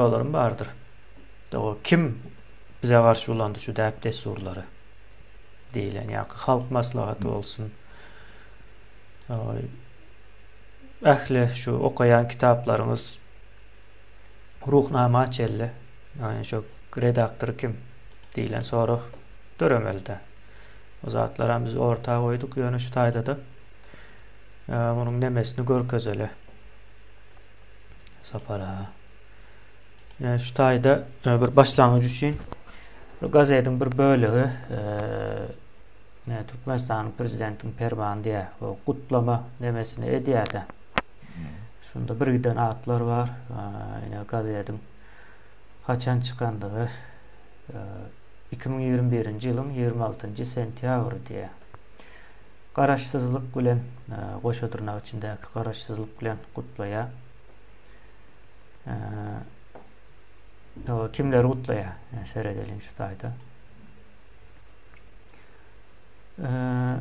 Şolaram bardyr. Doga kim bize garşy ulandy şu däp-dessurlary? diýlen ýaky halk maslahaty bolsun. Ähli şu okaýan kitaplaryňyz Ruhnama çelle. Ýani şu redaktory kim diýlen sorag döremeli-dä. O zatlaram biz orta goýduk, ýöne şu taýda-da munuň nemesini görkezeli. Sapara. e, şu taýda e, bir başlangyç üçin gazetiň bir bölegi e, Türkmenistanyň prezidentiniň permany diýär. O gutlama nemesini edýär-de. Şunda bir giden atlar bar. Ýöne gazetiň haçan çykandygy 2021-nji ýylyň 26-njy sentýabry diýär. Garaşsyzlyk bilen goşa dyrnak içindäki garaşsyzlyk bilen gutlaýar. Ee, kimleri gutlaýar? Yani seredeliň şu taýda. Ee,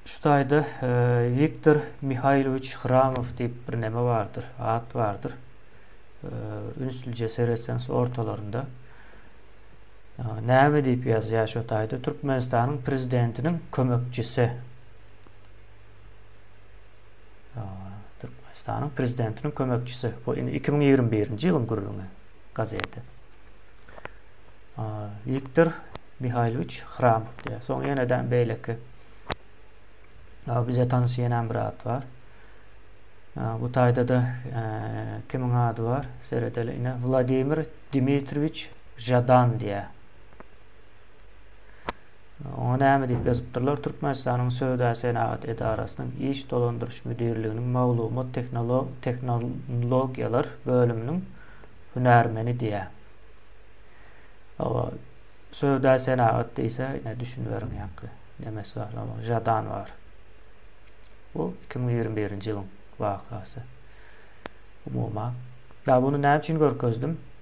şu taýda e, Viktor Mihailoviç Hramow diýip bir näme bardyr, at bardyr. Ee, ünslüje seretseňiz ortalarynda ee, näme diýip ýazýar şu taýda Türkmenistanyň prezidentiniň kömekçisi Türkmenistanyň prezidentiniň kömekçisi. Bu indi 2021-nji ýylyň gürrüňi gazeti. Viktor Mihaýlowiç Hramow diýýär. Soň ýene-de beýleki bize tanyş ýene bir at bar. Bu taýda da kimiň ady bar? Seredeli ine Wladimir Dmitriýewiç Žadan diýýär. Oňa näme diýip ýazypdyrlar, Türkmenistanyň Söwda-senagat edarasynyň iş dolandyryş müdirliginiň maglumat tehnologiýalar bölüminiň hünärmeni diýýär. Oba söwda-senagat diýse, ine düşüniberiň ýaňky nemes bar, Žadan bar. Bu 2021-nji ýylyň wakasy. Umuman. Ýa bunu näme üçin görkezdim?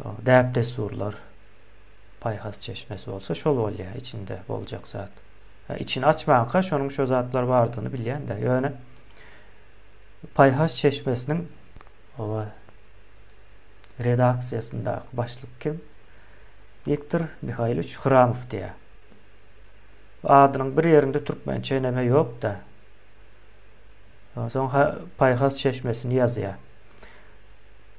Däp-dessurlar paýhas çeşmesi bolsa şol bolýar, içinde boljak zat. Içini açmanka şonuň şo zatlar bardygyny bilýän-de. Ýöne paýhas çeşmesiniň owa redaksiýasyndaky başlyk kim? Viktor Mihaýlowiç Hramow diýýär. Adynyň bir ýerinde türkmençe eneme ýok-da. Soň paýhas çeşmesini ýazýar.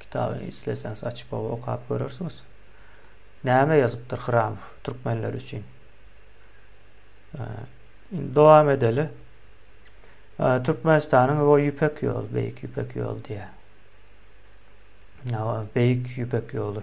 Kitaby isleseňiz açyp oba okap görersiňiz. Näme ýazypdyr Hramow türkmenler üçin? Indi dowam edeli. Türkmenistanyň o ýüpek ýol, beýik ýüpek ýol diýýär. Ýa beýik ýüpek ýoly.